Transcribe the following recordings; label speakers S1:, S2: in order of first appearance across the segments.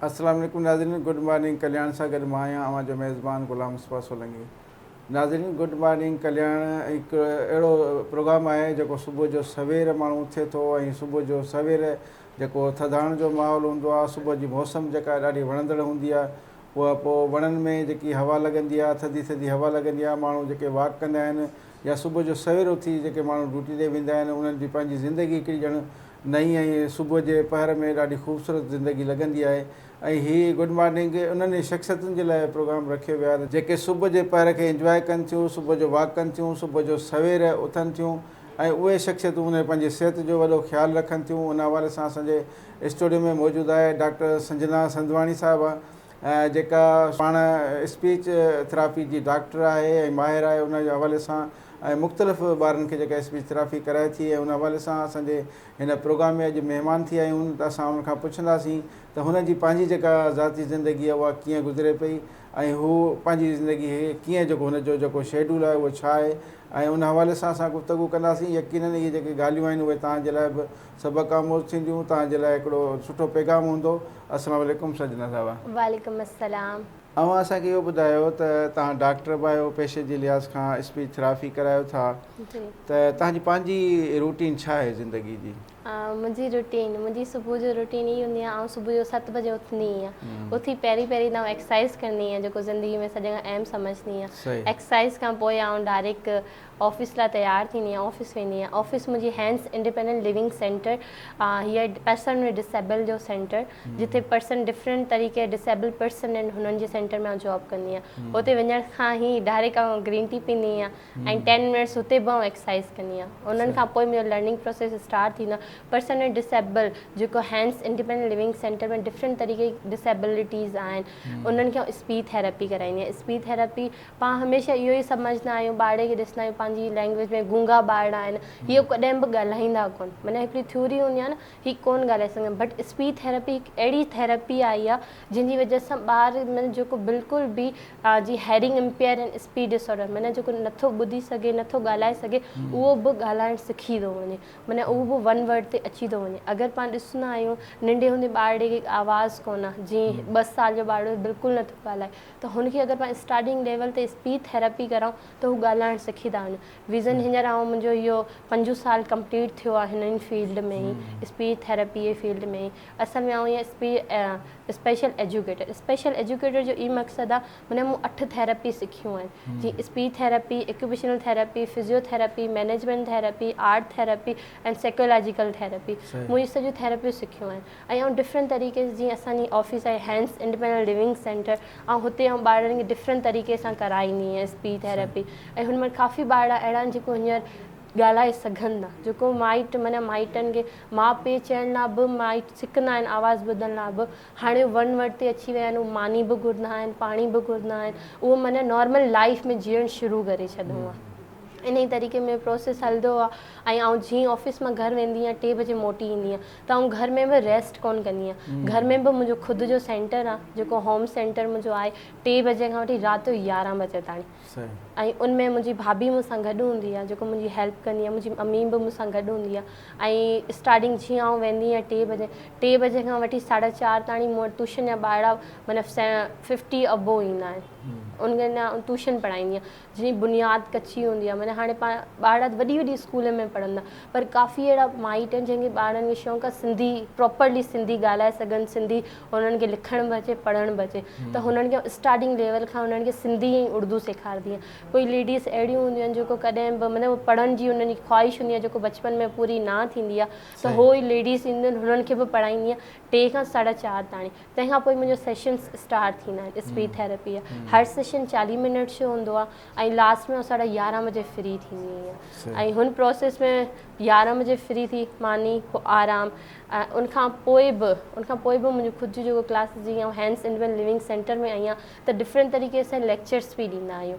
S1: السلام عليڪم ناظرين گڊ مارننگ ڪلياڻ سان گڏ مان آهيان اوهان جو ميزبان غلام مصباح سولنگي ناظرين گڊ مارننگ ڪلياڻ هڪ اهڙو پروگرام آهي جيڪو صبح جو سوير ماڻهو اٿي ٿو ۽ صبح جو سوير جيڪو ٿڌاڻ جو ماحول هوندو آهي صبح جي موسم جيڪا آهي ڏاڍي وڻندڙ هوندي آهي اها پوء وڻن ۾ جيڪي هوا لڳندي آهي ٿڌي ٿڌي هوا لڳندي آهي ماڻهو جيڪي واڪ ڪندا آهن يا صبح جو سوير اٿي جيڪي ماڻهو ڊيوٽي ڏي ويندا آهن انهن جي پنهنجي زندگي هڪڙي ڄڻ نئين ۽ صبح جي پهر ۾ ڏاڍي خوبصورت زندگي لڳندي آهي ۽ هي گڊ مارننگ انهن ئي شخصيتن جي لاء پروگرام رکيو ويو آهي جيڪي صبح جي پهر کي انجواء ڪن ٿيون صبح جو واڪ ڪن ٿيون صبح جو سوير اٿن ٿيون ۽ اهي شخصيتون هن پنهنجي صحت جو وڏو خيال رکن ٿيون ان حوالي سان اسان جي اسٽوڊيو ۾ موجود آهي ڊاڪٽر سنجنا سنڌواڻي صاحبه جيڪا پاڻ اسپيچ ٿراپي جي ڊاڪٽر آهي ۽ ماهر آهي ان جي حوالي سان ۽ مختلف ٻارن کي جيڪا اسپيچ ٿراپي ڪرائي ٿي ۽ ان حوالي سان اسان جي هن پروگرام ۾ اڄ مهمان ٿي آيون ته اسان ان کان پڇنداسين ته هن جي پنهنجي جيڪا ذاتي زندگي آهي اها ڪيئن گذري پئي ۽ هو پنهنجي زندگي هي ڪيئن جيڪو هن جو جيڪو شيڊول آهي اهو ڇا آهي ۽ ان حوالي سان اسان گفتگو ڪنداسين يقينن اهي جيڪي ڳالهيون آهن اهي توهان جي لاء به سبق آموز ٿينديون توهان جي لاء هڪڙو سٺو پيغام هوندو السلام عليڪم سجنا صاحبه. وعليڪم
S2: السلام. اوهان اسان کي اهو
S1: ٻڌايو ته توهان ڊاڪٽر به آهيو پيشي جي لحاظ کان اسپيچ ٿراپي ڪرايو ٿا ته توهان جي پنهنجي روٽين ڇا آهي زندگي جي. منهنجي روٽين
S2: منهنجي صبح جو روٽين هي هوندي آهي آئون صبح جو ست بجي اٿندي هي اٿي پهرين پهرين ته آئون ايڪسرسائز ڪندي هي جيڪو زندگي ۾ سڄڻ کان اهم سمجهندي هي ايڪسرسائز کان پوء آئون ڊائريڪ آفيس لاء تيار ٿيندي هي آفيس ويندي هي آفيس منهنجي هينس انڊيپينڊنٽ ليونگ سينٽر هي پرسن ۾ ڊسيبل جو سينٽر جتي پرسن ڊفرنٽ طريقي ڊسيبل پرسن هنن جي سينٽر ۾ آئون جاب ڪندي هي اتي وڃڻ کان هي ڊائريڪ آئون گرين ٽي پيندي هي ۽ ٽين منٽس اتي به آئون ايڪسرسائز ڪندي آهيان انهن کان پوء منهنجو لرننگ پروسيس اسٽارٽ ٿيندو آهي پرسن ائنڊ ڊسيبل جيڪو Hans independent living centre ۾ different طريقي جي ڊسيبلٽيز آهن انهن کي آئون اسپيچ ٿيراپي ڪرائيندي آهيان اسپيچ ٿيراپي پاڻ هميشه اهو ئي سمجهندا آهيون ٻارڙي کي ڏسندا آهيون پنهنجي لينگويج ۾ گونگا ٻارڙا آهن هي ڪڏهن به ڳالهائيندا ڪونه معنيٰ هڪڙي ٿيوري هوندي آهي نه هي ڪون ڳالهائي سگهندم بٽ اسپيچ ٿيراپي هڪ اهڙي ٿيراپي آهي آ جنهن جي وجه سان ٻار مطلب جيڪو بلڪل به جي hearing impaired ۽ speech disorder معنيٰ جيڪو نٿو ٻڌي سگهي نٿو ڳالهائي سگهي اهو به ڳالهائڻ سکي ٿو وڃي معنيٰ اهو به ون ورڊ تي اچي ٿو وڃي اگر پاڻ ڏسندا آهيون ننڍي هوندي ٻارڙي کي آواز ڪون آهي جي ٻه سال جو ٻارڙو بلڪل نٿو ڳالهائي ته هن کي اگر پاڻ اسٽارٽنگ ليول تي اسپيچ ٿيراپي ڪرائون ته هو ڳالهائڻ سکي ٿا وڃن ويزن هينئر آئون منهنجو اهو پنجون سال ڪمپليٽ ٿيو آهي هن ان فيلڊ ۾ ئي اسپيچ ٿيراپي جي فيلڊ ۾ ئي اصل ۾ آئون اسپيشل ايجوڪيٽر اسپيشل ايجوڪيٽر جو ئي مقصد آهي معنيٰ مون اٺ ٿيراپي سکيون آهن جيئن speech therapy occupational therapy physiotherapy management therapy art therapy and psychological therapy مون هي سڄيون ٿيراپيون سکيون آهن ۽ آئون ڊفرنٽ طريقي سان جيئن اسان جي آفيس آهي هينس انڊيپينڊنٽ ليونگ سينٽر آئون هتي آئون ٻارڙن کي ڊفرنٽ طريقي سان ڪرائيندي آهيان اسپيچ ٿيراپي ۽ هن مان ڪافي ٻارڙا اهڙا آهن جيڪو هينئر ڳالهائي سگهن ٿا جيڪو مائٽ معنيٰ مائٽن کي ماء پيء چئڻ لاء به مائٽ سکندا آهن آواز ٻڌڻ لاء به هاڻي ون ورڊ تي اچي ويا آهن هو ماني به گهرندا آهن پاڻي به گهرندا آهن اهو معنيٰ نارمل لائف ۾ جيئڻ شروع ڪري ڇڏيو آهي انهي طريقي ۾ پروسيس هلندو آهي ۽ آئون جيئن آفيس مان گهر ويندي آهيان ٽي بجي موٽي ايندي آهيان تون گهر ۾ به ريسٽ ڪونه ڪندينء. گهر ۾ به منهنجو خود جو سينٽر آ، جيڪو هوم سينٽر منهنجو آهي، ٽي بجي کان وٺي رات جو يارهن بجي تائين. ۽ ان ۾ منهنجي ڀاڀي مون سان گڏ هوندي آ، جيڪو منهنجي هيلپ ڪندي آ، منهنجي امي به مون سان گڏ هوندي آ. ۽ اسٽارٽنگ جيئن آئون ويندي آهيان ٽي بجي، ٽي بجي کان وٺي ساڍا چار تاڻي مون وٽ ٽيوشن جا ٻارڙا معنيٰ ففٽي ابو ايندا آهن. انهن لاء آئون ٽيوشن پڙهائيندي آهيان. جنهنجي بنياد ڪچي هوندي آهي معنيٰ هاڻي پاڻ ٻار ڏاڍي وڏي وڏي اسڪولن ۾ پڙهندا پر ڪافي اهڙا مائٽ آهن جنهن کي ٻارن کي شوق آهي سنڌي پراپرلي سنڌي ڳالهائي سگهن سنڌي هنن کي لکڻ به اچي پڙهڻ به اچي ته هنن کي اسٽارٽنگ ليول کان هنن کي سنڌي ۽ اردو سيکاربي آهي ڪوئي ليڊيز اهڙيون هونديون آهن جيڪو ڪڏهن به مطلب پڙهڻ جي هنن جي خواهش هوندي آهي جيڪو بچپن ۾ پوري نه ٿيندي آهي ته هو ليڊيز اينديون آهن هنن کي به پڙهائيندي آهي ٽي کان ساڍا چار تائين تنهن کان پوء منهنجو سيشنس اسٽارٽ ٿيندا آهن اسپيچ ٿيراپي جا هر سيشن چاليهه منٽس جو هوندو آهي ۽ لاسٽ ۾ ساڍا يارهن بجي فري ٿيندي آهيان ۽ هن پروسيس ۾ يارهن بجي فري ٿي ماني پوء آرام ان کان پوء به ان کان پوء به منهنجو خود جون جيڪو ڪلاسز جي هينس انڊ ويل لوينگ سينٽر ۾ آهيان ته ڊفرنٽ طريقي سان ليڪچرس بي ڏيندا آهيون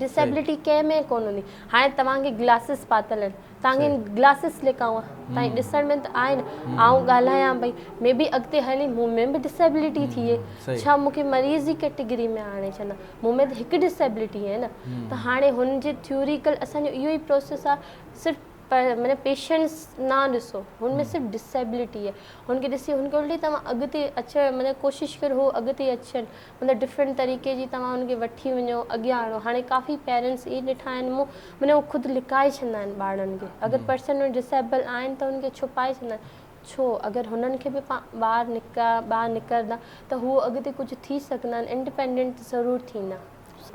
S2: ڊسيبلٽي ڪنهن ۾ ڪونه هوندي هاڻي توهان کي گلاسز پاتل آهن توهان کي گلاسز لکائون توهان کي ڏسڻ ۾ ته آهي نه آئون ڳالهايان پئي مي بي اڳتي هلي مون ۾ به ڊسيبلٽي ٿئي ڇا مون کي مريض جي ڪيٽيگري ۾ آڻي ڇڏندا مون ۾ ته هڪ ڊسيبلٽي آهي نه ته هاڻي هن جي ٿيوريڪل اسان جو اهو ئي پروسيس آهي صرف مطلب پيشنس نه ڏسو هن ۾ صرف ڊسيبلٽي آهي هن کي ڏسي هن کي الٽي توهان اڳتي اچڻ مطلب ڪوشش ڪريو هو اڳتي اچن مطلب ڊفرنٽ طريقي جي توهان ان کي وٺي وڃو اڳيان آڻو هاڻي ڪافي پيرنٽس اهي ڏٺا آهن مون معنيٰ هو خود لڪائي ڇڏندا آهن ٻارڙن کي اگر پرسن ڊسيبل آهن ته ان کي ڇپائي ڇڏندا آهن ڇو اگر هنن کي به ٻار نڪا ٻاهر نڪرندا ته هو اڳتي ڪجهه ٿي سگهندا آهن انڊپينڊنٽ ضرور ٿيندا.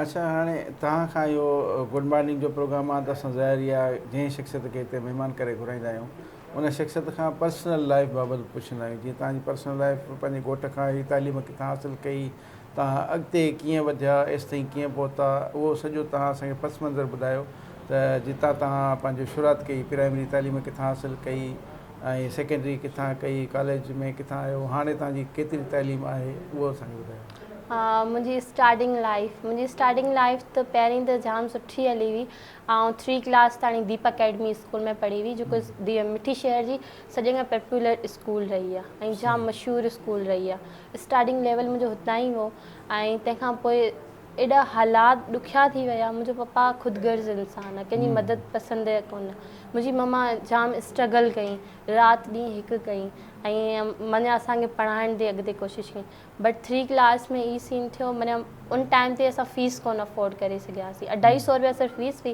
S2: اچا هاڻي
S1: توهان کان اهو گڊ مارننگ جو پروگرام آهي ته اسان ظاهر اها جنهن شخصيت کي هتي مهمان ڪري گهرائيندا آهيون ان شخصيت کان پرسنل لائيف بابت پڇندا آهيون جيئن توهان جي پرسنل لائيف پنهنجي گهوٽ کان اهڙي تعليم ڪٿان حاصل ڪئي توهان اڳتي ڪيئن وڌيا ايستائين ڪيئن پهتا اهو سڄو توهان اسان کي پس منظر ٻڌايو ته جتان توهان پنهنجو شروعات ڪئي پرائمري تعليم ڪٿان حاصل ڪئي ۽ سيڪنڊري ڪٿان ڪئي ڪاليج ۾ ڪٿان آيو هاڻي توهان جي ڪيتري تعليم آهي اهو اسان کي ٻڌايو. منهنجي
S2: اسٽارٽنگ لائيف منهنجي اسٽارٽنگ لائيف ته پهرين ته جام سٺي هلي هئي آئون ٿري ڪلاس تائين ديپ اڪيڊمي اسڪول ۾ پڙهي هئي جيڪو مٺي شهر جي سڄي کان پاپولر اسڪول رهي آهي ۽ جام مشهور اسڪول رهي آهي اسٽارٽنگ ليول منهنجو هتان ئي هو ۽ تنهن کان پوء ايڏا حالات ڏکيا ٿي ويا منهنجو پپا خود غرض انسان آهي ڪنهن جي مدد پسند آهي ڪونه منهنجي مما جام اسٽرگل ڪئي رات ڏينهن هڪ ڪئي ۽ مڃي اسان کي پڙهائڻ جي اڳتي ڪوشش ڪئي بٽ ٿري ڪلاس ۾ هي سين ٿيو معنيٰ ان ٽائيم تي اسان فيس ڪونه افورڊ ڪري سگهياسين اڍائي سئو روپيا صرف فيس هئي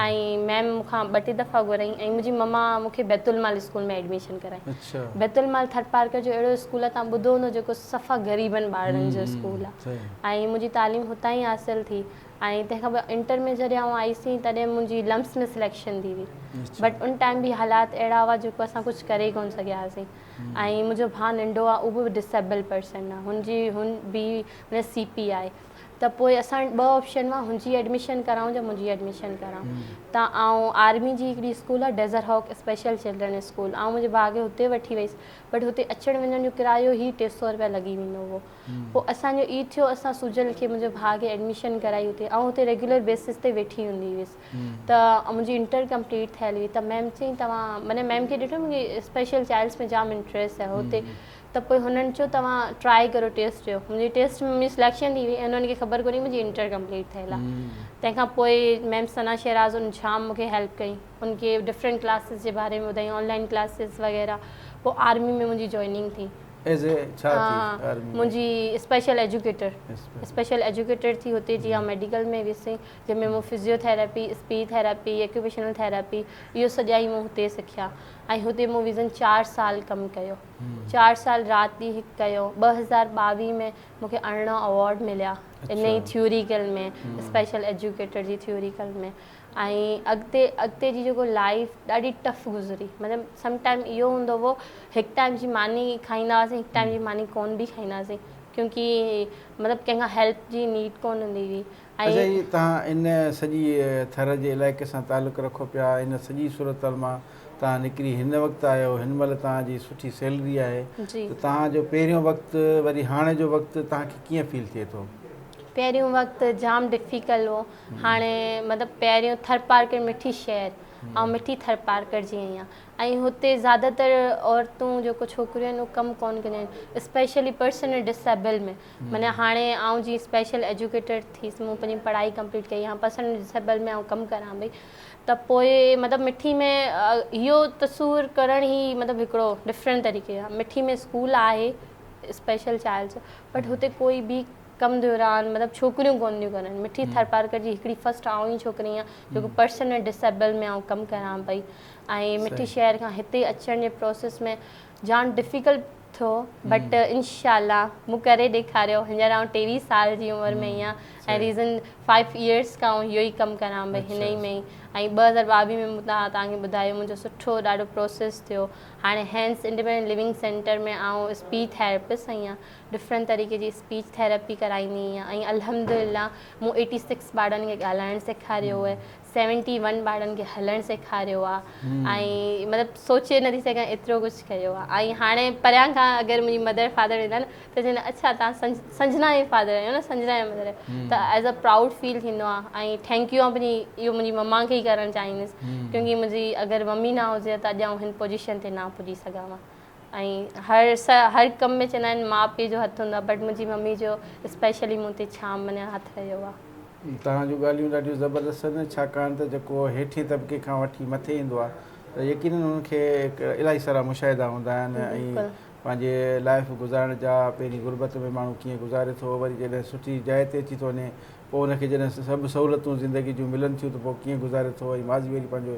S2: ۽ ميم مون کان ٻه ٽي دفعا گهرائي ۽ منهنجي مما مون کي بيت المال اسڪول ۾ ايڊميشن ڪرائي بيت المال ٿر پارڪر جو اهڙو اسڪول آهي تان ٻڌو هوندو جيڪو صفا غريبن ٻارڙن جو اسڪول آهي ۽ منهنجي تعليم هتان ئي حاصل ٿي ۽ تنهن کان پوء انٽر ۾ جڏهن آئون آئي سين تڏهن منهنجي لمس ۾ سليڪشن ٿي وئي بٽ ان ٽائيم به حالات اهڙا هئا جيڪو اسان ڪجهه ڪري ڪونه سگهياسين ۽ منهنجو ڀاء ننڍو آ اهو ڊسيبل پرسن آ هن جي هن بي مطلب سي پي آهي ته پوء اسان ٻه آپشن هئا هن جي ايڊميشن ڪرائون يا منهنجي ايڊميشن ڪرائون ته آئون آرمي جي هڪڙي اسڪول آ Desert Hawk special children school آئون منهنجي ڀاء کي هتي وٺي ويس بٽ هتي اچڻ وڃڻ جو ڪرايو هي ٽي سئو روپيا لڳي ويندو هو پوء اسان جو اي ٿيو اسان سجل کي منهنجي ڀاء کي ايڊميشن ڪرائي هتي آئون هتي ريگيولر بيسز تي ويٺي هوندي هيس ته منهنجي انٽر ڪمپليٽ ٿيل هئي ته ميم چيائين توهان معنيٰ ميم کي ڏٺم ڪي اسپيشل چائلڊس ۾ جام انٽريسٽ آهي هتي ته پوء هنن چيو توهان ٽرائي ڪريو ٽيسٽ ڏيو منهنجي ٽيسٽ ۾ منهنجي سليڪشن ٿي وئي ۽ انهن کي خبر ڪونهي منهنجي انٽر ڪمپليٽ ٿيل آهي تنهن کان پوء ميم ثنا شهراز ان جام مون کي هيلپ ڪئي ان کي ڊفرنٽ ڪلاسز جي باري ۾ ٻڌائين آن لائن ڪلاسز وغيره پوء آرمي ۾ منهنجي جوائننگ ٿي ايز اي ڇا ٿي آرمي ۾ منهنجي اسپيشل ايجوڪيٽر اسپيشل ايجوڪيٽر ٿي هتي جي ها ميڊيڪل ۾ ويسي جنهن ۾ مون physiotherapy, speech therapy, occupational therapy اهو سڄا ئي مون هتي سکيا ۽ هتي مون ويزن چار سال ڪم ڪيو. چار سال رات ڏينهن هڪ ڪيو. ٻه هزار ٻاويهه ۾ مون کي ارڙهن اوارڊ مليا انهي ئي ٿيوريڪل ۾ اسپيشل ايجوڪيٽر جي ٿيوريڪل ۾ ۽ اڳتي اڳتي جي جيڪو لائيف ڏاڍي ٽف گذري مطلب سم ٽائيم اهو هوندو هو هڪ ٽائيم جي ماني کائيندا هئاسين هڪ ٽائيم جي ماني ڪونه به کائيندا هئاسين ڪيونڪي مطلب ڪنهن کان هيلپ جي نيڊ ڪونه هوندي هئي اچا جي توهان
S1: ان سڄي ٿر جي علائقي سان تعلق رکو پيا ان سڄي صورتحال مان توهان نڪري هن وقت آهيو هن مهل توهان جي سٺي سيلري آهي ته توهان جو پهريون وقت وري هاڻي جو وقت توهان کي ڪيئن فيل ٿئي ٿو؟ پهريون وقت
S2: جام ڊفيڪل هو هاڻي مطلب پهريون ٿرپارڪر مٺي شهر آئون مٺي ٿرپارڪر جي آهيان ۽ هتي زياده تر عورتون جيڪو ڇوڪريون آهن اهو ڪم ڪونه ڪنديون آهن اسپيشلي پرسن ڊسيبل ۾ معنيٰ هاڻي آئون جيئن اسپيشل ايجوڪيٽر ٿيس مون پنهنجي پڙهائي ڪمپليٽ ڪئي هاڻ پرسنل ڊسيبل ۾ آئون ڪم ڪريان پئي ته پوء مطلب مٺي ۾ اهو تصور ڪرڻ هي مطلب هڪڙو ڊفرنٽ طريقي جا مٺي ۾ اسڪول آهي اسپيشل چائلڊ جو بٽ هتي ڪوئي به ڪم دوران مطلب ڇوڪريون ڪون ٿيون ڪرن مٺي ٿرپارڪر جي هڪڙي فرسٽ آئون ئي ڇوڪري آهيان جيڪو پرسن ۽ ڊسيبل ۾ آئون ڪم ڪريان پئي ۽ مٺي شهر کان هتي اچڻ جي پروسيس ۾ جان ڊفيڪلٽ ٿو بٽ انشاء الله مون ڪري ڏيکاريو هينئر آئون ٽيويهه سال جي عمر ۾ آهيان ۽ ريزن فائيو ايئرس کان آئون اهو ئي ڪم ڪران پئي هن ئي ۾ ۽ ٻه هزار ٻاويهه ۾ مون توهان کي ٻڌايو منهنجو سٺو ڏاڍو پروسيس ٿيو هاڻي هينس انڊيپينڊنٽ ليونگ سينٽر ۾ آئون اسپيچ ٿيراپسٽ آهيان ڊفرنٽ طريقي جي اسپيچ ٿيراپي ڪرائيندي آهيان ۽ الحمد لله مون ايٽي سڪس ٻارڙن کي ڳالهائڻ سيکاريو آهي سيونٽي ون ٻارن کي هلڻ سيکاريو آ ۽ مطلب سوچي نٿي سگهان ايترو ڪجهه ڪيو آ ۽ هاڻي پريان کان اگر منهنجي مدر فادر ويندا نه ته چوندا آهن اڇا تان سنجنا جي فادر آهيو نه سنجنا جي مدر آهيو ته ايز ا پرائوڊ فيل ٿيندو آ ۽ ٿينڪ يو آ پنهنجي اهو منهنجي مما کي ئي ڪرڻ چاهيندس ڪيونڪه منهنجي اگر ممي نه هجي ها ته اڄ آئون هن پوزيشن تي نه ها پڄي سگهان ها ۽ هر هر ڪم ۾ چوندا آهن ماء پيء جو هٿ هوندو آهي بٽ منهنجي ممي جو اسپيشلي مون تي ڇا مڃان هٿ رهيو آهي. توهان جون ڳالهيون
S1: ڏاڍيون زبردست آهن ڇاڪاڻ ته جيڪو هيٺين طبقي کان وٺي مٿي ايندو آهي ته يقينن هن کي الاهي سارا مشاهدا هوندا آهن ۽ پنهنجي لائف گذارڻ جا پهرين غربت ۾ ماڻهو ڪيئن گذاري ٿو وري جڏهن سٺي جاء تي اچي ٿو وڃي پوء هن کي جڏهن سڀ سهولتون زندگي جون ملن ٿيون ته پوء ڪيئن گذاري ٿو ۽ ماضي وري پنهنجو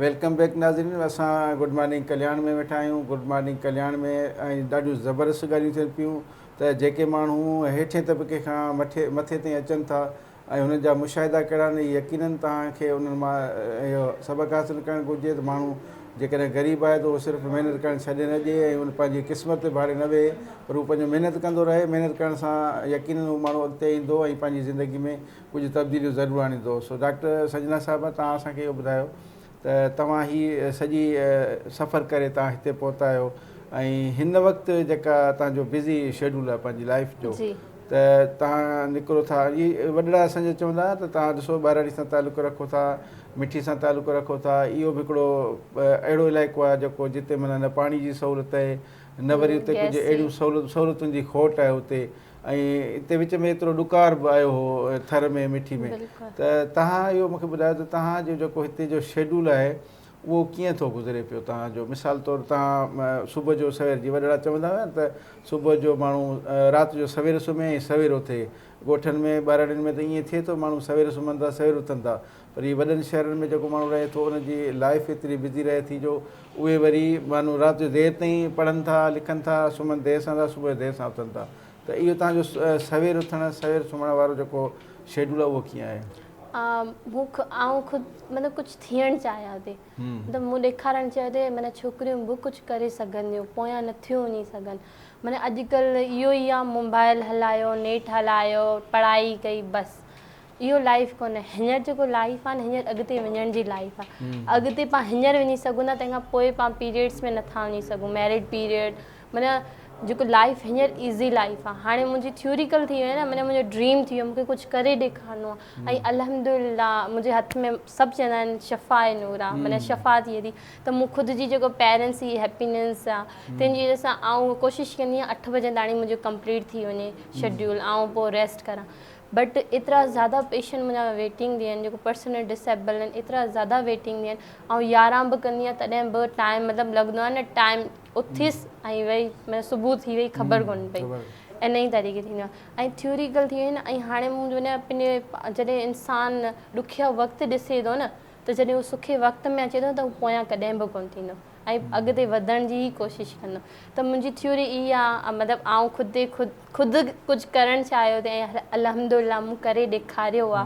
S1: ويلڪم بيڪ ناظرين اسان گڊ مارننگ ڪلياڻ ۾ ويٺا آهيون گڊ مارننگ ڪلياڻ ۾ ۽ ڏاڍيون زبردست ڳالهيون ٿين پيون ته جيڪي ماڻهو هيٺين طبقي کان مٿي مٿي تائين اچن ٿا ۽ هنن جا مشاهدا ڪهڙا آهن يقينن توهان کي انهن مان اهو سبق حاصل ڪرڻ گهرجي ته ماڻهو جيڪڏهن غريب آهي ته اهو صرف محنت ڪرڻ ڇڏي نه ڏي ۽ ان پنهنجي قسمت تي ڀاڙي نه ويهي پر اهو پنهنجو محنت ڪندو رهي محنت ڪرڻ سان يقينن اهو ماڻهو اڳتي ايندو ۽ پنهنجي زندگي ۾ ڪجهه تبديليون ضرور آڻيندو. سو ڊاڪٽر سنجنا صاحبه توهان اسان کي اهو ٻڌايو ته توهان هي سڄي سفر ڪري توهان هتي پهتا آهيو ۽ هن وقت جيڪا توهان جو بزي شيڊول آهي پنهنجي لائيف جو ته توهان نڪرو ٿا هي وڏڙا اسان جا چوندا ته توهان ڏسو ٻهراڙي سان تعلق رکو ٿا مٺي سان تعلق رکو ٿا اهو به هڪڙو اهڙو علائقو آهي جيڪو جتي معنيٰ نه پاڻي جي سهولت آهي نه وري اتي ڪجهه اهڙيون سهولتون سهولتن جي کوٽ آهي اتي ۽ اتي وچ ۾ ايترو ڏڪار به آيو هو ٿر ۾ مٺي ۾ ته تهان اهو مونکي ٻڌايو ته تهان جو جيڪو هتي جو شيڊول آهي اهو ڪيئن ٿو گذري پيو تهان جو مثال طور تهان صبح جو سوير جي وڏڙا چوندا هئا ته صبح جو ماڻهو رات جو سوير سمهي ۽ سوير اٿي ڳوٺن ۾ ٻهراڙين ۾ ته ائين ٿئي ٿو ماڻهو سوير سمهن ٿا سوير اٿن ٿا پر هي وڏن شهرن ۾ جيڪو ماڻهو رهي ٿو ان جي لائيف ايتري بزي رهي ٿي جو اهي وري ماڻهو رات جو دير تائين پڙهن ٿا لکن ٿا سمهن دير سان ٿا صبح جو دير سان اٿن ٿا ته اهو توهان جو سوير اٿڻ سوير سمهڻ وارو جيڪو شيڊول آهي اهو ڪيئن آهي؟ بک
S2: آئون خود مطلب ڪجھ ٿيڻ چاهيان ٿي مطلب مون ڏيکارڻ چاهيو ته معنيٰ ڇوڪريون به ڪجھ ڪري سگهن ٿيون پويان نه ٿيون وڃي سگهن معنيٰ اڄڪلهه اهو ئي آهي موبائل هلايو نيٽ هلايو پڙهائي ڪئي بس اهو لائيف ڪونهي هينئر جيڪو لائيف آهي نه هينئر اڳتي وڃڻ جي لائيف آهي اڳتي پان هينئر وڃي سگهون ٿا تنهن کان پوء پان پيريڊس ۾ نٿا وڃي سگهون ميريڊ پيريڊ معنيٰ جيڪو لائيف هينئر ايزي لائيف آهي هاڻي منهنجي ٿيوريڪل ٿي وئي نه معنيٰ منهنجو ڊريم ٿي ويو مونکي ڪجهه ڪري ڏيکارڻو آهي ۽ الحمد لله منهنجي هٿ ۾ سڀ چوندا آهن شفا آهي نور آهي معنيٰ شفا ٿي وئي ٿي ته مون خود جي جيڪو پيرنس جي هيپينس آهي تنهن جي وجه سان آئون ڪوشش ڪندي آهيان اٺ بجن تاڻي منهنجو ڪمپليٽ ٿي وڃي شيڊيول آئون پوء ريسٽ ڪران بٽ ايترا زياده پيشنٽ منهنجا ويٽنگ تي آهن جيڪو پرسنل ڊسيبل آهن ايترا زياده ويٽنگ تي آهن آئون يارهن به ڪندي آهيان تڏهن به ٽائيم مطلب لڳندو آهي نه ٽائيم اٿيس ۽ وئي مطلب صبح ٿي وئي خبر ڪون پئي ان ئي طريقي ٿيندو آهي ۽ ٿيوريڪل ٿي ويو نه ۽ هاڻي مون جو نه پنهنجي جڏهن انسان ڏکيا وقت ڏسي ٿو نه ته جڏهن هو سکي وقت ۾ اچي ٿو ته هو پويان ڪڏهن به ڪون ٿيندو ۽ اڳتي وڌڻ جي ئي ڪوشش ڪندم ته منهنجي ٿيوري اهي آ مطلب آئون خود خود خود ڪجهه ڪرڻ چاهيو ته الحمد لله مون ڪري ڏيکاريو آ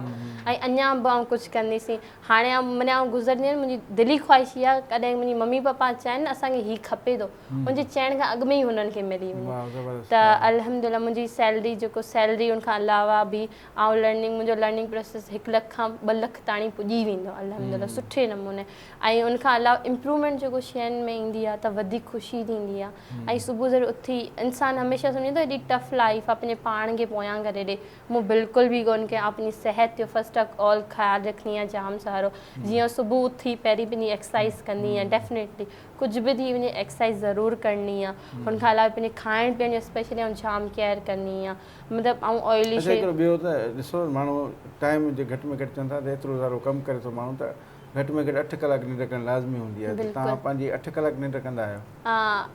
S2: ۽ اڃا به آئون ڪجهه ڪنديسي هاڻي آئون معني آئون گذرندي آهيان منهنجي دلي خواهش اهي آ ڪڏهن منهنجي ممي پاپا چاهين نه اسان کي هي کپي ٿو ان جي چئڻ کان اڳ ۾ ئي هنن کي ملي وڃي ته الحمد لله منهنجي سيلري جيڪو سيلري ان کان علاوه به آئون لرننگ منهنجو لرننگ پروسيس هڪ لک کان ٻه لک تائين پڄي ويندو الحمد لله سٺي نموني ۽ ان کان علاوه امپرومينٽ جيڪو شين ۾ ايندي آ ته وڌيڪ خوشي ٿيندي آ ۽ صبح سوير اٿي انسان هميشه سمجهندو آ ايڏي ٽف لائيف آ پنهنجي پاڻ کي پويان ڪري ڏي مون بلڪل به ڪون ڪيا آ پنهنجي صحت جو فرسٽ آف آل خيال رکڻي آ جام سارو جيئن صبح اٿي پهرين پنهنجي ايڪسرسائيز ڪندي آ ڊيفنيٽلي ڪجهه به ٿي وڃي ايڪسرسائيز ضرور ڪرڻي آ ان کان علاوه پنهنجي کائڻ پيئڻ جو اسپيشلي آئون جام ڪيئر ڪندي آ مطلب آئون آئلي شي اچا هڪڙو ٻيو ته
S1: ڏسو ماڻهو ٽائيم جي گهٽ ۾ گهٽ چون ٿا ته ايترو سارو ڪم ڪري ٿو ماڻهو ته گهٽ ۾ گهٽ اٺ ڪلاڪ ننڊ ڪرڻ لازمي هوندي آهي ته توهان پنهنجي اٺ ڪلاڪ ننڊ ڪندا آهيو؟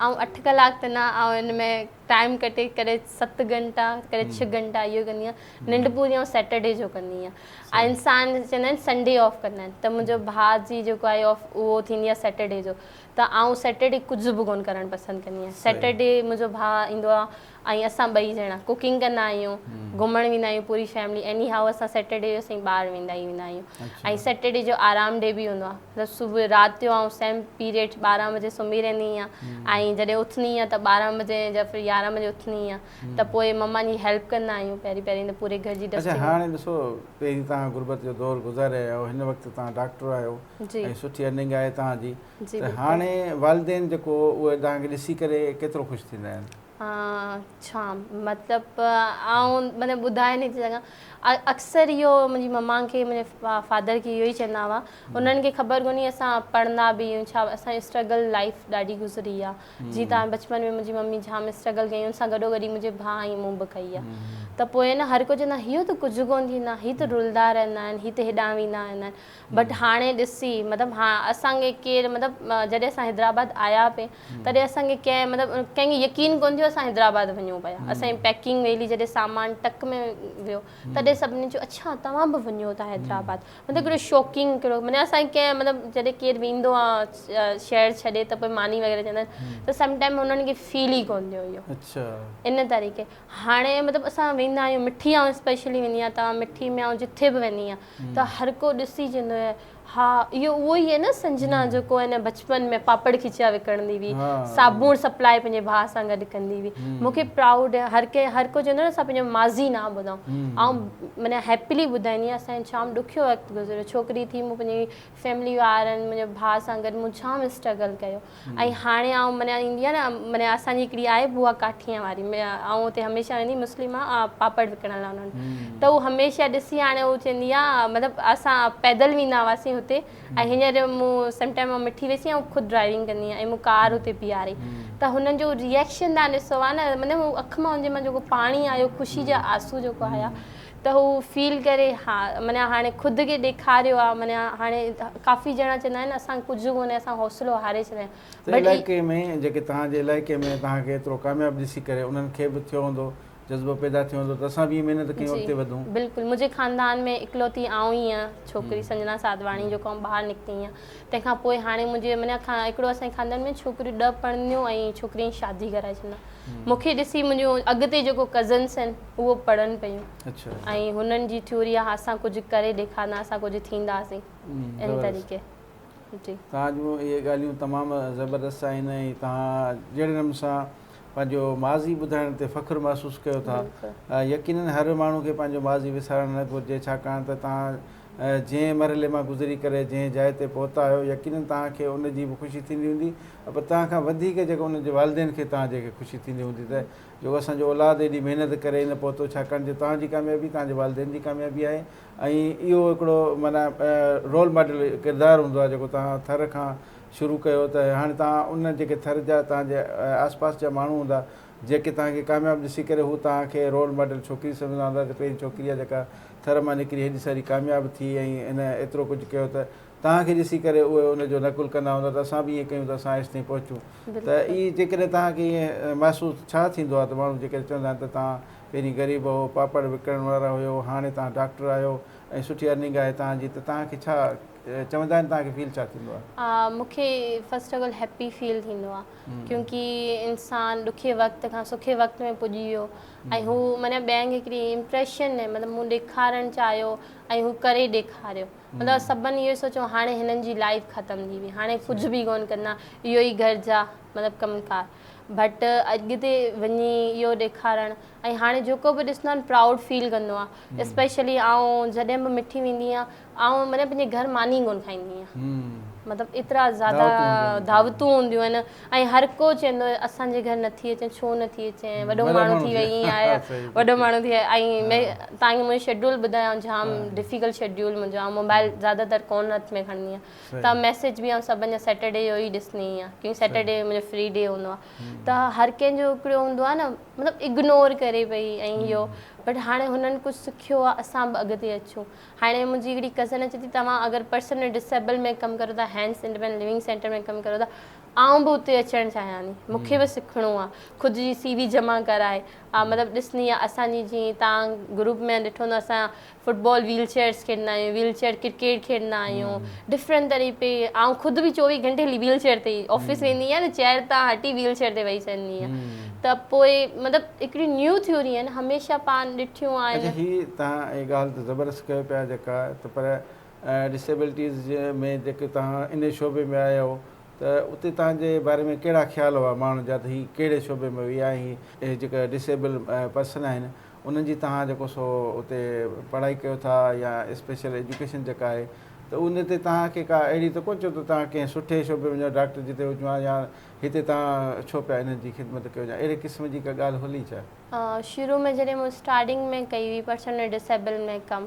S1: آئون اٺ
S2: ڪلاڪ ته نه آئون ان ۾ ٽائيم ڪٽي ڪڏهن ست گهنٽا ڪڏهن ڇهه گهنٽا اهو ڪندي آهيان ننڊ پوري آئون سيٽرڊي جو ڪندي آهيان ۽ انسان چوندا آهن سنڊي آف ڪندا آهن ته منهنجو ڀاء جي جيڪو آهي آف اهو ٿيندي آهي سيٽرڊي جو ته آئون سيٽرڊي ڪجهه به ڪونه ڪرڻ پسند ڪندي آهيان سيٽرڊي منهنجو ڀاء ايندو آهي ۽ اسان ٻئي ڄڻا ڪوڪنگ ڪندا آهيون گهمڻ ويندا آهيون پوري فيملي ايني هائو اسان سيٽرڊي جو سائين ٻاهر ويندا ئي ويندا آهيون ۽ سيٽرڊي جو آرام ڊي به هوندو آهي صبح رات جو آئون سيم پيريڊ ٻارهن بجي سمهي رهندي آهيان ۽ جڏهن اٿندي آهيان ته ٻارهن بجي يا پھر يارهن بجي اٿندي آهيان ته پوء مما جي هيلپ ڪندا آهيون پهرين پهرين ته پوري گهر جي ڊسٽنگ اڇا هاڻي ڏسو
S1: پهرين تان غربت جو دور گذاري آيا آهيو هن وقت تان ڊاڪٽر آهيو ۽ سٺي ارننگ آهي تان جي ته هاڻي والدين جيڪو اهي توهان کي ڏسي ڪري ڪيترو خوش ٿيندا آهن؟ ڇا
S2: مطلب آئون مطلب ٻڌائي نٿي سگهان اڪثر اهو منهنجي مما کي منهنجي فادر کي اهو ئي چوندا هئا انهن کي خبر ڪونهي اسان پڙهندا به آهيون ڇا اسان جي اسٽرگل لائيف ڏاڍي گذري آهي جي تان بچپن ۾ منهنجي ممي جام اسٽرگل ڪيائين ان سان گڏو گڏي منهنجي ڀاء ۽ مون به ڪئي آهي ته پوء نه هر ڪو چوندا هيو ته ڪجهه ڪونهي ٿيندا هي ته رلدا رهندا آهن هي ته هيڏانهن ويندا رهندا آهن بٽ هاڻي ڏسي مطلب ها اسان کي ڪير مطلب جڏهن اسان حيدرآباد آيا پي تڏهن اسان کي ڪنهن مطلب ڪنهن کي يقين ڪون ٿيو اسان حيدرآباد وڃون پيا اسان جي پيڪنگ ويلي جڏهن سامان ٽڪ ۾ ويو تڏهن سڀني چيو اڇا توهان به وڃو ٿا حيدرآباد مطلب ڪهڙو شوڪينگ ڪهڙو معنيٰ اسان کي ڪنهن مطلب جڏهن ڪير ويندو آهي شهر ڇڏي ته پوء ماني وغيره چوندا آهن ته سم ٽائيم هنن کي فيل ئي ڪون ٿيو اهو اڇا ان طريقي هاڻي مطلب اسان ويندا آهيون مٺي آئون اسپيشلي ويندي آهيان توهان مٺي ميان جتي به ويندي آهيان ته هرڪو ڏسي چوندو هي ها اهو اهو ئي هي نه سنجنا جيڪو هن بچپن ۾ پاپڙ کچيا وڪڻندي هئي صابوڻ سپلائي پنهنجي ڀاء سان گڏ ڪندي هئي مون کي پرائوڊ هي هر ڪنهن هر ڪو چوندو نه اسان پنهنجو ماضي نه ٻڌائون آئون معنيٰ هيپلي ٻڌائيندي آهيان اسان جي جام ڏکيو وقت گذريو ڇوڪري ٿي مون پنهنجي فيملي وارن منهنجي ڀاء سان گڏ مون جام اسٽرگل ڪيو ۽ هاڻي آئون معنيٰ ايندي آهي نه معنيٰ اسان جي هڪڙي آهي بوا ڪاٺيان واري آئون اتي هميشه ويندي مسلم آ پاپڙ وڪڻڻ لاء انهن ته هو هميشه ڏسي هاڻي هو چوندي آ مطلب اسان پيدل ويندا هئاسين هتي ۽ هينئر مون سم ٽائيم مان مٺي ويسي آئون خود ڊرائيونگ ڪندي آهيان ۽ مون ڪار اتي بيهاري ته هنن جو ريئڪشن تان ڏسو آ نه مطلب اک مان هن جي مان جيڪو پاڻي آيو خوشي جا آنسو جيڪو آيا ته هو فيل ڪري ها معنيٰ هاڻي خود کي ڏيکاريو آ معنيٰ هاڻي ڪافي ڄڻا چوندا آهن اسان ڪجهه ڪونهي اسان حوصلو هاري ڇڏيا آهن بٽ علائقي ۾ جيڪي
S1: توهان جي علائقي ۾ توهان کي ايترو ڪامياب ڏسي ڪري انهن کي به ٿيو هوندو جذبو پيدا ٿيو هوندو ته اسان به ائين محنت ڪيون اڳتي وڌون. بلڪل منهنجي خاندان ۾
S2: اڪلوتي آئون ئي آهيان ڇوڪري سنجنا ساڌواڻي جو ڪم ٻاهر نڪتي آهيان تنهن کان پوء هاڻي منهنجي معنيٰ هڪڙو اسان جي خاندان ۾ ڇوڪريون ڏهه پڙهنديون ۽ ڇوڪري جي شادي ڪرائي ڇڏيندا مون کي ڏسي منهنجون اڳتي جيڪو ڪزنس آهن اهو پڙهن پيون ۽ هنن جي ٿيوري آهي اسان ڪجهه ڪري ڏيکارندا اسان ڪجهه ٿينداسين ان طريقي جي توهان جون اهي
S1: ڳالهيون تمام زبردست آهن ۽ توهان جهڙي نموني سان پنهنجو ماضي ٻڌائڻ تي فخر محسوس ڪيو ٿا يقينن هر ماڻهو کي پنهنجو ماضي وسارڻ نه گهرجي ڇاڪاڻ ته توهان جنهن مرحلي مان گذري ڪري جنهن جاء تي پهتا آهيو يقينن توهان کي ان جي به خوشي ٿيندي هوندي پر تنهن کان وڌيڪ جيڪو ان جي والدين کي تنهن جي کي خوشي ٿيندي هوندي ته جيڪو اسان جو اولاد ايڏي محنت ڪري نه پهتو ڇاڪاڻ جو تنهن جي ڪاميابي تنهن جي والدين جي ڪاميابي آهي ۽ اهو هڪڙو معنيٰ رول ماڊل ڪردار هوندو آهي جيڪو تنهن ٿر کان شروع ڪيو ته هاڻي تنهن ان جيڪي ٿر جا تنهن جي آس پاس جا ماڻهو هوندا جيڪي تنهن کي ڪامياب ڏسي ڪري هو تنهن کي رول ماڊل ڇوڪري سمجهندا هوندا ته پهرين ڇوڪري آهي جيڪا ٿر مان نڪري هيڏي ساري ڪامياب ٿي ۽ هن ايترو ڪجهه ڪيو ته توهان کي ڏسي ڪري اهي ان جو نقل ڪندا هوندا ته اسان به ائين ڪيون ته اسان ايستائين پهچون ته اي جيڪڏهن توهان کي ائين محسوس ڇا ٿيندو آهي ته ماڻهو جيڪڏهن چوندا آهن ته توهان پهرين غريب هئو پاپڙ وڪڻڻ وارا هيو هاڻي توهان ڊاڪٽر آهيو ۽ سٺي ارننگ آهي توهان جي ته توهان کي ڇا چوندا آهن توهان کي فيل ڇا ٿيندو آهي مون کي first
S2: of all happy feel ٿيندو آهي ڪيونڪي انسان ڏکي وقت کان سکي وقت ۾ پڄي ويو ۽ هو معنيٰ ٻين کي هڪڙي امپريشن مطلب مون ڏيکارڻ چاهيو ۽ هو ڪري ڏيکاريو مطلب سڀن اهو ئي سوچيو هاڻي هنن جي لائف ختم ٿي وئي هاڻي ڪجهه به ڪون ڪندا اهو ئي گهر جا مطلب ڪم ڪار بٽ اڳتي وڃي اهو ڏيکارڻ ۽ هاڻي جيڪو به ڏسندو آهي پرائوڊ فيل ڪندو آهي اسپيشلي آئون جڏهن به مٺي ويندي آهيان آئون مطلب پنهنجي گهر ماني ڪون کائيندي آهيان مطلب ايترا زياده دعوتون هونديون آهن ۽ هر ڪو چوندو هو اسان جي گهر نه ٿي اچين ڇو نه ٿي اچين وڏو ماڻهو ٿي وئي ائين آهي وڏو ماڻهو ٿي وئي ائين ۾ تان کي منهنجو شيڊول ٻڌايان جام ڊفيڪلٽ شيڊول منهنجو آئون موبائل زياده تر ڪون هٿ ۾ کڻندي آهيان ته ميسيج به آئون سڀن جا سيٽرڊي جو ئي ڏسندي هئي آهيان ڪيونڪه سيٽرڊي منهنجو فري ڊي هوندو آهي ته هر ڪنهن جو هڪڙو هوندو آهي نه مطلب اگنور ڪري پئي ائين اهو بٽ هاڻي هنن ڪجهه سکيو آهي اسان به اڳتي اچون هاڻي منهنجي هڪڙي ڪزن اچي ٿي توهان اگر پرسنل ڊسيبل ۾ ڪم ڪريو ٿا هينس انڊيپينڊنٽ ليونگ سينٽر ۾ ڪم ڪريو ٿا آئون به اتي اچڻ چاهيان ٿي مون کي به سکڻو آهي خود جي سي وي جمع ڪرائي مطلب ڏسني آهي اسان جي جي تان گروپ ۾ ڏٺو هوندو اسان فٽ بال ويل چيئرس کيڏندا آهيون ويل چيئر ڪرڪيٽ کيڏندا آهيون ڊفرنٽ طريقي پي آئون خود به چوويهه گهنٽي هلي ويل چيئر تي آفيس ويندي آهيان ته چيئر تان هٽي ويل چيئر تي ويهي چهندي آهيان ته پوء مطلب هڪڙيون نيون ٿيورين هميشه پاڻ ڏٺيون آهن. اچا هي تهان هي
S1: ڳالهه ته زبردست ڪيو پيا جيڪا ته پر ڊسيبلٽيز جي ۾ جيڪي تهان انهي شعبي ۾ آيا هئو ته اتي تهان جي باري ۾ ڪهڙا خيال هئا ماڻهن جا ته هي ڪهڙي شعبي ۾ ويا ۽ هي جيڪا ڊسيبل پرسن آهن انهن جي تهان جيڪو سو اتي پڙهائي ڪيو ٿا يا اسپيشل ايجوڪيشن جيڪا آهي ته ان تي تهان کي ڪا اهڙي ته ڪونه چئو ته تهان ڪنهن سٺي شعبي ۾ وڃو ڊاڪٽر جتي هجو ها يا هتي توهان ڇو پيا انهن جي خدمت ڪيو يا اهڙي قسم جي ڪا ڳالهه هلي ڇا؟ شروع ۾ جڏهن
S2: مون اسٽارٽنگ ۾ ڪئي هئي پرسنل ڊسيبل ۾ ڪم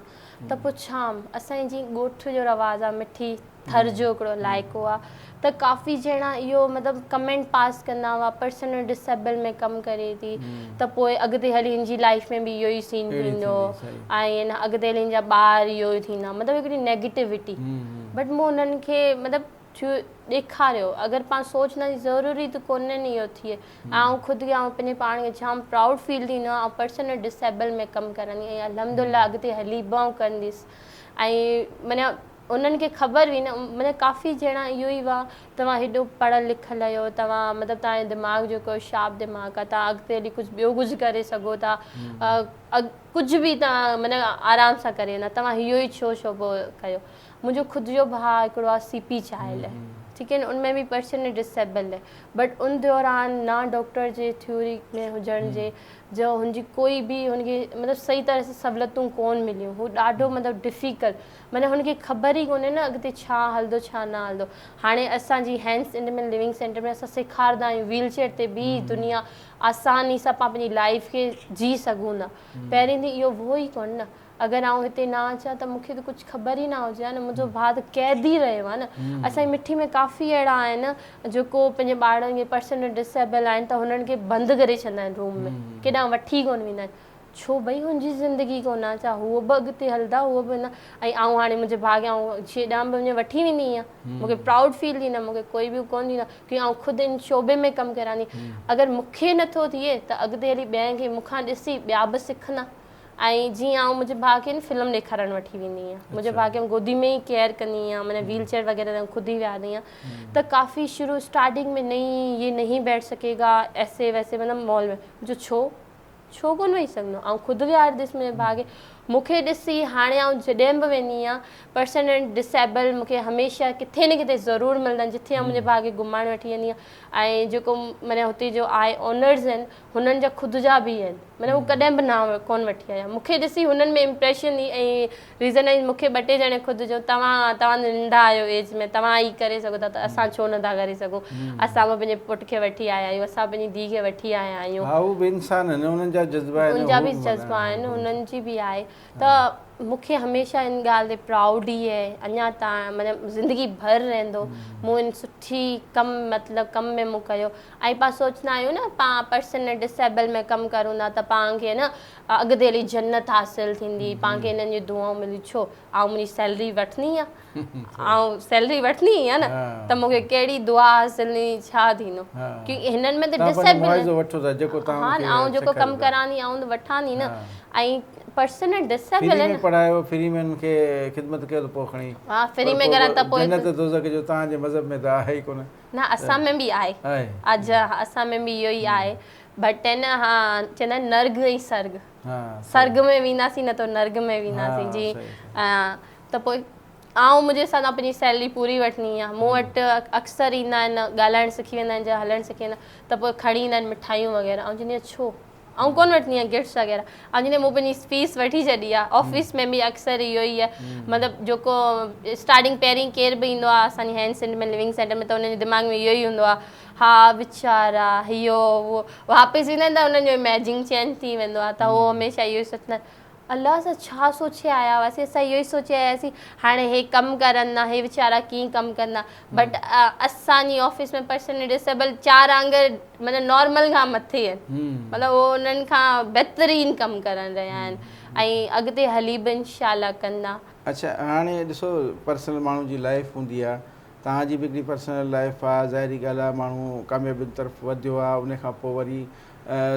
S2: ته پڇيام اسان جي جيئن ڳوٺ جو رواز آهي مٺي ٿر جو هڪڙو علائقو آهي ته ڪافي ڄڻا اهو مطلب ڪمينٽ پاس ڪندا هئا پرسنل ڊسيبل ۾ ڪم ڪري ٿي ته پوء اڳتي هلي هن جي لائيف ۾ به اهو ئي سين ٿيندو ۽ اڳتي هلي هن جا ٻار اهو ئي ٿيندا مطلب هڪڙي نيگيٽوٽي بٽ مون انهن کي مطلب ٿيو ڏيکاريو اگر پاڻ سوچ نا جي ضروري ته ڪونهي ني اهو ٿئي آئون خود کي آئون پنهنجي پاڻ کي جام پرائوڊ فيل ٿيندو آهي آئون پرسنل ڊسيبل ۾ ڪم ڪرندي ۽ الحمدالله اڳتي هلي به آئون ڪنديس ۽ معنيٰ انهن کي خبر هئي نه معنيٰ ڪافي ڄڻا اهو ئي هئا توهان هيڏو پڙهيل لکيل آهيو توهان مطلب توهان جو دماغ جيڪو هو شارپ دماغ آهي توهان اڳتي هلي ڪجهه ٻيو ڪجهه ڪري سگهو ٿا ڪجهه به توهان معنيٰ آرام سان ڪري ويندا توهان اهو ئي ڇو ڇو پوء ڪيو منهنجو خود جو ڀاء هڪڙو آ سي پي چاهيل ٺيڪ هي نه ان ۾ به پرشن ڊسيبل هي بٽ ان دوران نه ڊاڪٽر جي ٿيوري ۾ هجڻ جي جو هن جي ڪوئي به هن کي مطلب صحيح طرح سان سھولتون ڪون مليون هو ڏاڍو مطلب ڊفيڪل معنيٰ هن کي خبر ئي ڪونهي نه اڳتي ڇا هلندو ڇا نه هلندو هاڻي اسان جي هينس انڊ مل لوينگ سينٽر ۾ اسان سيکاردا آهيون ويل چيئر تي بيهي دنيا آساني سان پاڻ پنهنجي لائف کي جي سگهون ٿا پهرين ڏينهن اهو هو ئي ڪون نه اگر آئون هتي نه اچان ته مون کي ته ڪجهه خبر ئي نه هجي ها نه، منهنجو ڀاء ته قيد ئي رهيو ها نه. اسان جي مٺي ۾ ڪافي اهڙا آهن جيڪو پنهنجي ٻارڙن کي پرسنل ڊسيبل آهن ته هنن کي بند ڪري ڇڏندا آهن روم ۾ ڪيڏانهن وٺي ڪونه ويندا آهن ڇو ڀئي هن جي زندگي ڪونه آهي ڇا هو به اڳتي هلندا هو به هلندا ۽ آئون هاڻي منهنجي ڀاء کي آئون جيڏانهن به وڃي وٺي ويندي هيان مون کي پرائوڊ فيل ٿيندو مون کي ڪوئي به ڪونه ڏيندا ڪيونڪه آئون خود ان شعبي ۾ ڪم ڪريان ٿي اگر مون کي نٿو ٿئي ته اڳتي هلي ٻين کي مون کان ڏسي ٻيا به سکندا ۽ جيئن آئون منهنجي ڀاء کي فلم ڏيکارڻ وٺي ويندي هيان منهنجي ڀاء کي گودي ۾ ئي ڪيئر ڪندي هيان معنيٰ ويل چيئر وغيره ته خود ئي ويهارندي هيان ته ڪافي شروع اسٽارٽنگ ۾ نئي هي نهي بيٺ سگهي گا ايسي ويسي مطلب مال ۾ جو ڇو ڇو ڪونه ويهي سگهندو آئون خود ويهارديس منهنجي ڀاء کي مونکي ڏسي هاڻي آئون جڏهن به ويندي هيان پرسن ۽ ڊسيبل مونکي هميشه ڪٿي نه ڪٿي ضرور ملندا آهن جتي آئون منهنجي ڀاء کي گهمائڻ وٺي ويندي هيان ۽ جيڪو معنيٰ هتي جو آهي اونرز آهن هنن جا خود جا به آهن مطلب هو ڪڏهن به نانء ڪون وٺي آيا مون کي ڏسي هنن ۾ امپريشن ئي ۽ ريزن ائين مون کي ٻه ٽي ڄڻي خود جو توهان توهان جو ننڍا آهيو ايج ۾ توهان هي ڪري سگهو ٿا ته اسان ڇو نٿا ڪري سگهون اسان به پنهنجي پٽ کي وٺي آيا آهيون اسان پنهنجي ڌيء کي وٺي آيا آهيون ها هو به انسان آهن انهن
S1: جا جذبا آهن انهن جا به جذبا
S2: آهن انهن جي به آهي ته مون کي هميشه ان ڳالهه تي پرائوڊ ئي آهي اڃا تائين مطلب زندگي ڀر رهندو مون ان سٺي ڪم مطلب ڪم ۾ مون ڪيو ۽ پا سوچندا آهيون نه پا پرسنل ڊسيبل ۾ ڪم ڪرون ٿا ته پا کي نه اڳتي هلي جنت حاصل ٿيندي پا کي انهن جون دعائون ملي ڇو آئون منهنجي سيلري وٺندي آ آئون سيلري وٺندي هي نه ته مون کي ڪهڙي دعا حاصل ٿيندي ڇا ٿيندو ڪي هنن ۾ ته ڊسيبل ها نه آئون جيڪو ڪم ڪران ٿي آئون وٺان ٿي نه ۽ پرسنل ڊسيبل فري ۾ پڙهايو فري ۾
S1: ان کي خدمت ڪيو ته پو کڻي ها فري ۾ ڪران ته
S2: پو جنت دوزخ جو تهان جي
S1: مذهب ۾ ته آهي ئي ڪونه نه اسان ۾ به
S2: آهي اڄ اسان ۾ به اهو ئي آهي بٽ هي نه ها چوندا آهن نرگ ۽ سرگ سرگ ۾ وينداسين نه ته نرگ ۾ وينداسين جي ته پوء آئون منهنجي حساب سان پنهنجي سيلري پوري وٺني آ مون وٽ اڪثر ايندا آهن ڳالهائڻ سکي ويندا آهن جا هلڻ سکي ويندا آهن ته پوء کڻي ايندا آهن مٺايون وغيره آئون چوندي آهيان ڇو آئون ڪونه وٺندي آهيان گفٽس وغيره آئون چوندي مون پنهنجي فيس وٺي ڇڏي آ آفيس ۾ به اڪثر اهو ئي آ مطلب جيڪو اسٽارٽنگ پهرين ڪير به ايندو آ اسان جي هينڊ سينٽر ۾ لونگ سينٽر ۾ ته انهن جي دماغ ۾ اهو ئي هوندو آ ها ويچارا هيو هو واپس ايندا آهن ته انهن جو اميجنگ چينج ٿي ويندو آ ته هو هميشه اهو ئي سوچندا آهن الله اسان ڇا سوچي آيا هئاسين اسان اهو ئي سوچي آيا هئاسين هاڻي هي ڪم ڪرندا هي ويچارا ڪيئن ڪم ڪندا بٽ اسان جي آفيس ۾ پرسن ڊسيبل چار آنگر مطلب نارمل کان مٿي آهن مطلب هو انهن کان بهترين ڪم ڪرن رهيا آهن ۽ اڳتي هلي به انشاء الله ڪندا. اڇا هاڻي
S1: ڏسو پرسنل ماڻهو جي لائف هوندي آهي توهان جي به هڪڙي پرسنل لائف آهي ظاهري ڳالهه آهي ماڻهو ڪاميابين طرف وڌيو آهي ان کان پوء وري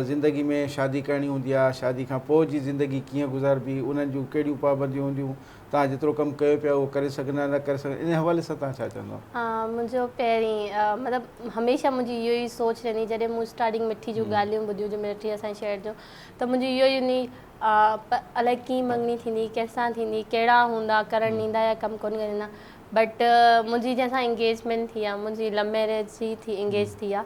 S1: زندگي ۾ شادي ڪرڻي هوندي آ شادي کان پوء جي زندگي ڪيئن گذاربي انهن جون ڪهڙيون پابنديون هونديون توهان جيترو ڪم ڪيو پيا اهو ڪري سگهندا نه ڪري سگهندا ان حوالي سان توهان ڇا چوندو منهنجو
S2: پهرين مطلب هميشه منهنجي اهو ئي سوچ رهندي جڏهن مون اسٽارٽنگ مٺي جون ڳالهيون ٻڌيون جو مٺي اسان جي شهر جو ته منهنجو اهو ئي هوندي الائي ڪيئن مڱڻي ٿيندي ڪنهن سان ٿيندي ڪهڙا هوندا ڪرڻ ڏيندا يا ڪم ڪونه ڪرڻ ڏيندا بٽ منهنجي جنهن سان انگيجمينٽ ٿي آ منهنجي لو ميرج ٿي انگيج ٿي آ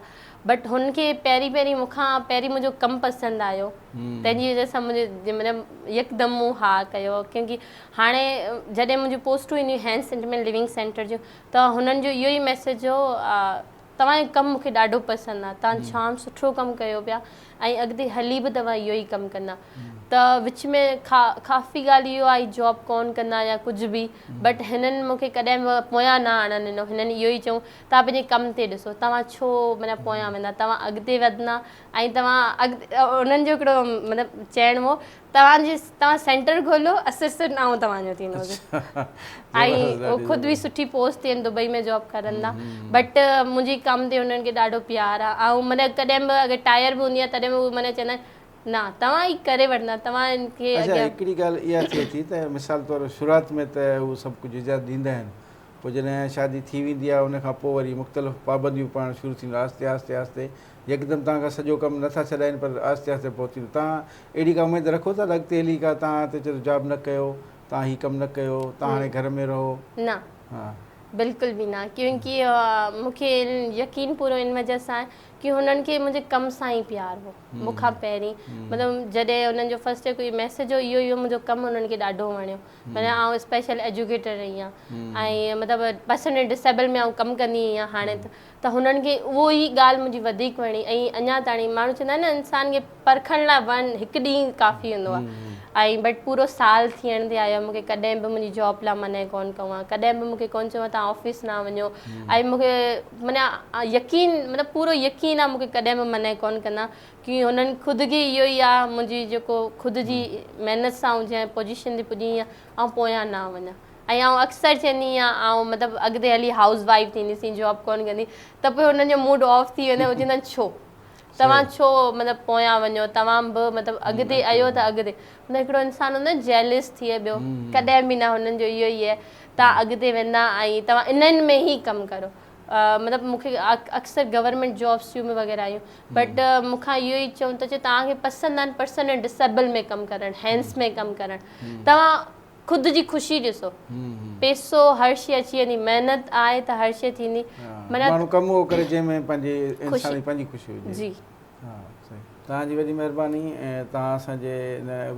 S2: بٽ هن کي پهرين پهرين مون کان پهرين منهنجو ڪم پسند آيو تنهن جي وجه سان منهنجي مطلب يڪدم مون ها ڪيو ڪيونڪي هاڻي جڏهن منهنجون پوسٽون اينديون هيون هينس انٽيمينٽ ليونگ سينٽر جون ته هنن جو اهو ئي ميسيج هو توهان جو ڪم مون کي ڏاڍو پسند آ توهان ڄام سٺو ڪم ڪيو پيا ۽ اڳتي هلي به توهان اهو ئي ڪم ڪندا ته وچ ۾ ڪافي ڳالهه اهو آئي جاب ڪون ڪندا يا ڪجهه به بٽ هنن مون کي ڪڏهن به پويان نه آڻڻ ڏنو هنن اهو ئي چيو توهان پنهنجي ڪم تي ڏسو توهان ڇو مطلب پويان ويندا توهان اڳتي وڌندا ۽ توهان انهن جو هڪڙو مطلب چيڻ هو توهان جي توهان سينٽر کولو اسر سر نائون توهان جو ٿيندو ۽ هو خود به سٺي پوسٽ تي دبئي ۾ جاب ڪرندا بٽ منهنجي ڪم تي انهن کي ڏاڍو پيار آهي ۽ مطلب ڪڏهن به اگر ٽائر به هوندي آهي تڏهن به مطلب چوندا آهن نه توهان هي ڪري وٺندا توهان کي اڳيان هڪڙي ڳالهه
S1: اها ٿئي ٿي ته مثال طور شروعات ۾ ته هو سڀ ڪجهه اجازت ڏيندا آهن پوء جڏهن شادي ٿي ويندي آهي ان کان پوء وري مختلف پابنديون پوڻ شروع ٿينديون آهستي آهستي آهستي يڪدم توهان کان سڄو ڪم نه ٿا ڇڏائين پر آهستي آهستي پوء ٿيندو توهان اهڙي ڪا اميد رکو ٿا ته اڳتي هلي ڪا توهان تي چئي ٿو جاب نه ڪيو توهان هي ڪم نه ڪيو توهان هاڻي گهر ۾ رهو نه ها
S2: بلڪل به نه ڪيونڪه مون کي يقين پورو ان وجه سان ڪي هنن کي منهنجي ڪم سان ئي پيار هو مون کان پهرين مطلب جڏهن هنن جو فرسٽ ڪوئي ميسج هو اهو ئي هو منهنجو ڪم هنن کي ڏاڍو وڻيو معنيٰ آئون اسپيشل ايجوڪيٽر رهي آهيان ۽ مطلب پرسن ۽ ڊسيبل ۾ آئون ڪم ڪندي هئي هاڻي ته هنن کي اهو ئي ڳالهه منهنجي وڌيڪ وڻي ۽ اڃا تاڻي ماڻهو چوندا آهن نه انسان کي پرکڻ لاء ون هڪ ڏينهن ڪافي هوندو آهي ۽ بٽ پورو سال ٿيڻ تي آيو مون کي ڪڏهن به منهنجي جاب لاء منع ڪون ڪئون آهي ڪڏهن به مون کي ڪون چيون تان آفيس نه وڃو ۽ مون کي معنيٰ يقين مطلب پورو يقين آهي مون کي ڪڏهن به منع ڪون ڪندا ڪي هنن خود کي اهو ئي آ منهنجي جيڪو خود جي محنت سان آئون جنهن پوزيشن تي پڄي آهيان آئون پويان نه وڃان ۽ آئون اڪثر چوندي آهيان آئون مطلب اڳتي هلي هائوس وائيف ٿينديسين جاب ڪونه ڪندي ته پوء هنن جو موڊ آف ٿي ويندو هو چوندن ڇو توهان ڇو مطلب پويان وڃو توهان به مطلب اڳتي ايو ته اڳتي مطلب هڪڙو انسان هوندو آهي جيلس ٿئي ٻيو ڪڏهن به نه هنن جو اهو ئي آهي توهان اڳتي ويندا ۽ توهان انهن ۾ ئي ڪم ڪرو مطلب مون کي اڪثر گورنمينٽ جابس ٿيون مي وغيره آيون بٽ مون کان اهو ئي چون ٿا چي توهان کي پسند آهن پرسن ۽ ڊسيبل ۾ ڪم ڪرڻ هينس ۾ ڪم ڪرڻ توهان خود جي خوشي ڏسو پيسو هر شي اچي ويندي محنت آهي ته هر شي ٿيندي ماڻهو ڪم
S1: اهو ڪري جنهن ۾ پنهنجي انسان جي پنهنجي خوشي هجي جي ها صحيح توهان جي وڏي مهرباني توهان اسان جي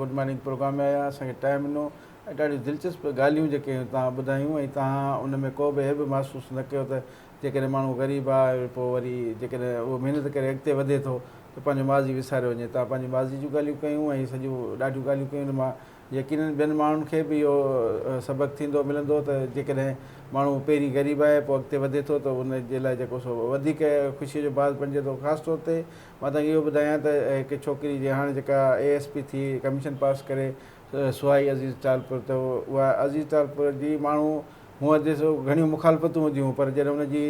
S1: گڊ مارننگ پروگرام ۾ آيا اسان کي ٽائم ڏنو ۽ ڏاڍيون دلچسپ ڳالهيون جيڪي توهان ٻڌايون ۽ توهان ان ۾ ڪو به عيب محسوس نه ڪيو ته جيڪڏهن ماڻهو غريب آ ۽ پوء وري جيڪڏهن اهو محنت ڪري اڳتي وڌي ٿو ته پنهنجو ماضي وساريو وڃي توهان پنهنجي ماضي جون ڳالهيون ڪيون ۽ سڄيون ڏاڍيون ڳالهيون ڪيون ان مان يقينن ٻين ماڻهن کي به اهو سبق ٿيندو ملندو ته جيڪڏهن ماڻهو پهرين غريب آهي پوء اڳتي وڌي ٿو ته ان جي لاء جيڪو سو وڌيڪ خوشي جو باعث بڻجي ٿو خاص طور تي مان توهان کي اهو ٻڌايان ته هڪ ڇوڪري جي هاڻي جيڪا اي ايس پي ٿي ڪميشن پاس ڪري سوائي عزيز ٽالپر ته اها عزيز ٽالپر جي ماڻهو هونء جي سو گهڻيون مخالفتون هونديون پر جڏهن ان جي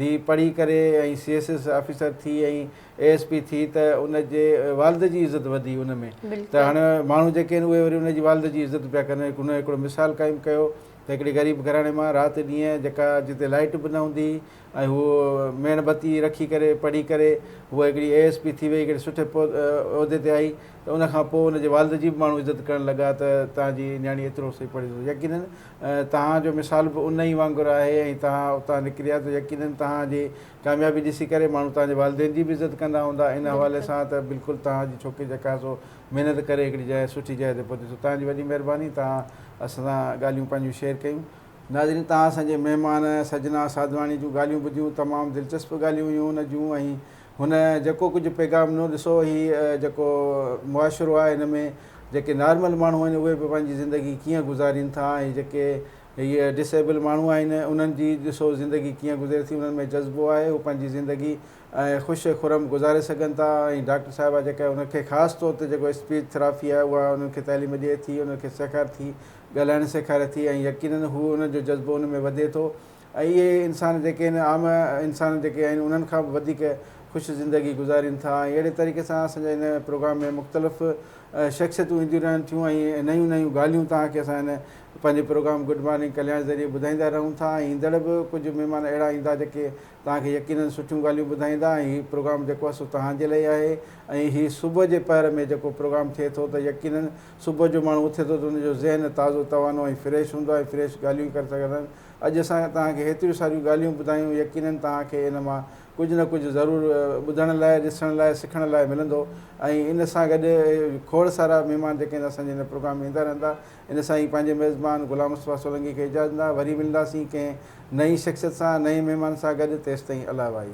S1: ڌيء پڙهي ڪري ۽ سي ايس ايس آفيسر ٿي ۽ اي ايس پي ٿي ته ان جي والد جي عزت وڌي ان ۾ ته هاڻي ماڻهو جيڪي آهن اهي وري ان جي والد جي عزت پيا ڪن هن هڪڙو مثال قائم ڪيو ته هڪڙي غريب گهراڻي مان رات ڏينهن جيڪا جتي لائيٽ به نه هوندي هئي ۽ هوء ميڻ بتي رکي ڪري پڙهي ڪري هوء هڪڙي اي ايس پي ٿي وئي ڪهڙي سٺي عهدي تي آئي ته ان کان پوء ان جي والد جي به ماڻهو عزت ڪرڻ لڳا ته تنهن جي نياڻي ايترو سهي پڙهي اٿس يقيناً توهان جو مثال به ان ئي وانگر آهي ۽ توهان اتان نڪريا ته يقيناً توهان جي ڪاميابي ڏسي ڪري ماڻهو توهان جي والدين جي به عزت ڪندا هوندا ان حوالي سان ته بلڪل توهان جي ڇوڪري چڪاسو محنت ڪري هڪڙي جاء سٺي جاء تي پهتي سو توهان جي وڏي مهرباني توهان اسان سان ڳالهيون پنهنجون شيئر ڪيون ناظرين توهان اسان جي مهمان سجنا ساڌواڻي جون ڳالهيون ٻڌيون تمام دلچسپ ڳالهيون هيون هن جون ۽ هن جيڪو ڪجهه پيغام ڏنو ڏسو هي جيڪو معاشرو آهي هن ۾ جيڪي نارمل ماڻهو آهن اهي به پنهنجي زندگي ڪيئن گذارين ٿا ۽ جيڪي هي ڊس ايبل ماڻهو آهن انهن جي ڏسو زندگي ڪيئن گذري ٿي انهن ۾ جذبو آهي هو پنهنجي زندگي خوش خرم گذاري سگهن ٿا ۽ ڊاڪٽر صاحبه جيڪا هن کي خاص طور تي جيڪو اسپيچ ٿراپي آهي اها انهن کي تعليم ڏئي ٿي انهن کي سيکار ٿي ڳالهائڻ سيکاري ٿي ۽ يقينن هو ان جو جذبو ان ۾ وڌي ٿو ۽ اهي انسان جيڪي هن عام انسان جيڪي آهن انهن کان به وڌيڪ خوش زندگي گذارين ٿا ۽ اهڙي طريقي سان اسان جي هن پروگرام ۾ مختلف شخصيتون اينديون رهن ٿيون ۽ نيون نيون ڳالهيون توهان کي اسان هن پنهنجي پروگرام گڊ مارننگ ڪلياڻ ذريعي ٻڌائيندا رهون ٿا ۽ ايندڙ به ڪجهه مهمان اهڙا ايندا جيڪي توهان کي يقينن سٺيون ڳالهيون ٻڌائيندا ۽ هي پروگرام جيڪو آهي سو توهان جي لاء آهي ۽ هي صبح جي پهر ۾ جيڪو پروگرام ٿئي ٿو ته يقينن صبح جو ماڻهو اٿي ٿو ته ان جو ذهن تازو توانو ۽ فريش هوندو آهي ۽ فريش ڳالهيون ڪري سگهندا آهيون. اڄ اسان توهان کي هيتريون ساريون ڳالهيون ٻڌايون يقينن توهان کي ان مان ڪجهه نه ڪجهه ضرور ٻڌڻ لاء، ڏسڻ لاء، سکڻ لاء ملندو ۽ ان سان گڏ کوڙ سارا مهمان جيڪي آهن اسان جي هن پروگرام ۾ ايندا رهندا. ان سان ئي پنهنجي ميزبان غلام مصطفيٰ سولنگي کي اجازت ڏيندا وري ملنداسين ڪنهن نئين شخصيت سان نئين مهمان سان گڏ تيستائين الله وائي.